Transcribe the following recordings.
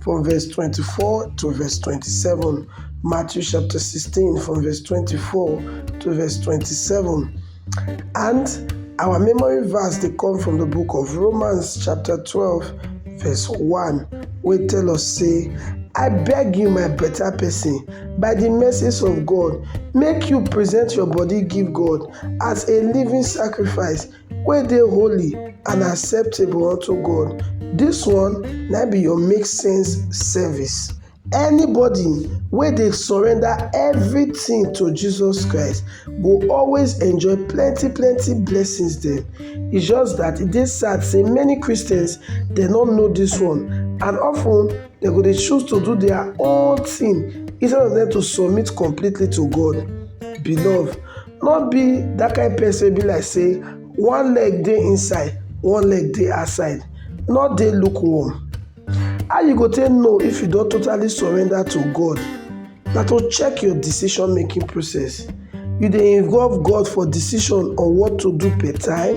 from verse 24 to verse 27. Matthew chapter 16, from verse 24 to verse 27. And our memory verse they come from the book of Romans chapter 12, verse 1, We tell us, say, I beg you, my better person, by the mercies of God, make you present your body, give God as a living sacrifice, wey dey holy and acceptable unto God. This one na be your make sense service. Anybody wey dey surrender everything to Jesus Christ go always enjoy plenty plenty blessings dem. E just that e dey sad say many Christians dey not know this one and often they go dey choose to do their own thing instead of them to submit completely to God. Beloved, No be that kind person wey be like say one leg dey inside, one leg dey outside. No dey lukewarm. How you go take know if you don totally surrender to God? Na to check your decision making process. You dey involve God for decision on what to do per time?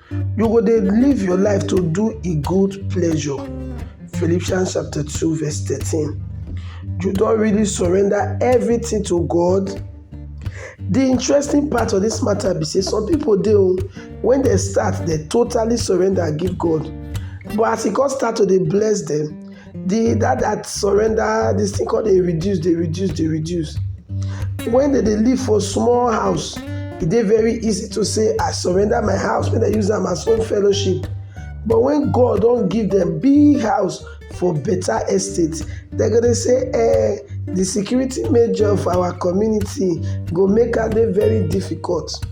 You go dey live your life to do e good pleasure. Philippians chapter 2 verse 13. You don really surrender everything to God? The interesting part of this matter be say some people dey o, when dem start dem totally surrender give God but as e come start to dey bless dem, the that that surrender this thing called dey reduce dey reduce dey reduce when they dey live for small house e dey very easy to say i surrender my house make dem use am as home fellowship but when god don give them big house for better estate dem go dey say eh the security major for our community go make am dey very difficult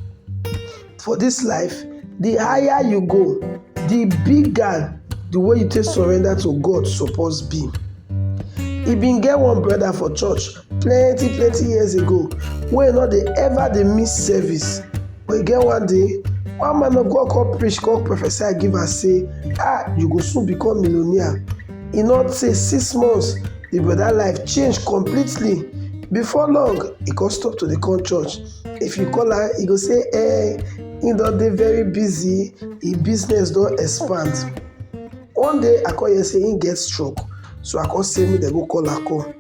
For this life, the higher you go, the bigger the way you take surrender to God suppose be. He been get one brother for church plenty plenty years ago wey no dey ever dey miss service. But e get one day, one man of God come preach come prophesy give am say, ah you go soon become millionaire. E no tey six months, the brother life change completely. Before long, e come stop to dey come church. if you call am e go say eh he don dey very busy him business don expand one day i come hear say he get stroke so i come say make dem go call am come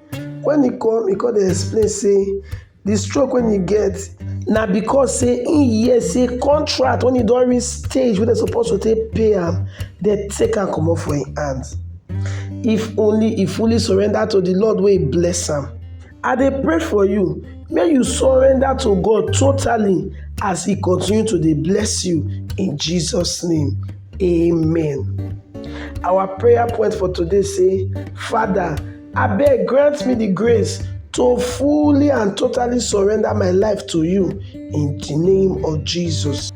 when he come he come dey explain say the stroke wey he get na because say he hear say contract when he don reach stage wey dem suppose to take pay am dem take am comot for him hand if only he fully surrender to the lord wey bless am I dey pray for you make you surrender to God totally as He continue to dey bless you in Jesus' name. Amen. Our prayer point for today say, Father, abeg grant me the grace to fully and totally surrender my life to you in the name of Jesus.